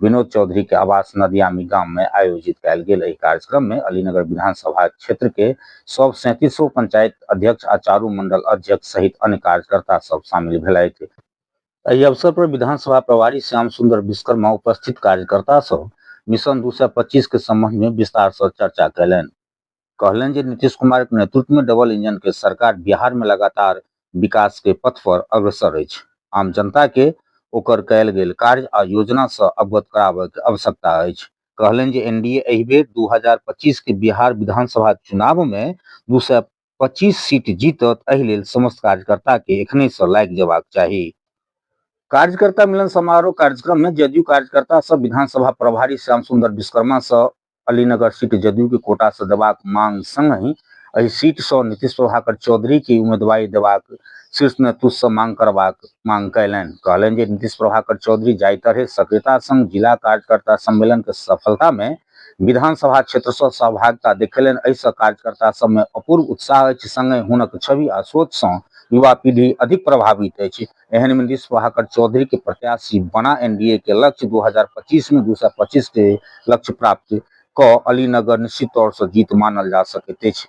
विनोद चौधरी के आवास नदियामी गाम में आयोजित कयल गेल एहि कार्यक्रम में अलीनगर विधानसभा क्षेत्र के सब सैंतीसो पंचायत अध्यक्ष आ चारू मंडल अध्यक्ष सहित अन्य कार्यकर्ता सब शामिल भेलथि एहि अवसर पर विधानसभा प्रभारी श्याम सुंदर विश्वकर्मा उपस्थित कार्यकर्ता सब मिशन दू के संबंध में विस्तार से चर्चा कयलनि कहलनि जे नीतीश कुमार के नेतृत्व में डबल इंजन के सरकार बिहार में लगातार विकास के पथ पर अग्रसर अछि। आम जनता के ओकर कयल गेल कार्य आ योजना सं अवगत कराबय के आवश्यकता अछि। कहलनि जे एनडीए एहि बेर दू हजार पच्चीस के बिहार विधानसभा चुनाव में दू सय पच्चीस सीट जीतत, एहि लेल समस्त कार्यकर्ता के एखनहि सं लागि जयबाक चाही। कार्यकर्ता मिलन समारोह कार्यक्रम में जदयू कार्यकर्ता सभ विधानसभा प्रभारी श्याम सुंदर विश्वकर्मा सं अलीनगर सीट जदयू के कोटा से देबाक मांग संगहि एहि सीट स नीतीश प्रभाकर चौधरी के उम्मीदवारी देबाक शीर्ष नेतृत्व स मांग करबाक मांग कयलनि। कहलनि जे नीतीश प्रभाकर चौधरी जाहि तरहें सक्रियता संग जिला कार्यकर्ता सम्मेलन के सफलता मे विधानसभा क्षेत्र स सहभागिता देखेलनि एहि स कार्यकर्ता सभ मे अपूर्व उत्साह अछि। संगहि हुनक छवि आ सोच स युवा पीढ़ी अधिक प्रभावित अछि। एहन में नीतीश प्रभाकर चौधरी के प्रत्याशी बना एनडीए के लक्ष्य 2025 में 225 के लक्ष्य प्राप्त क अलीनगर निश्चित तौर से जीत मानल जा सकैत अछि।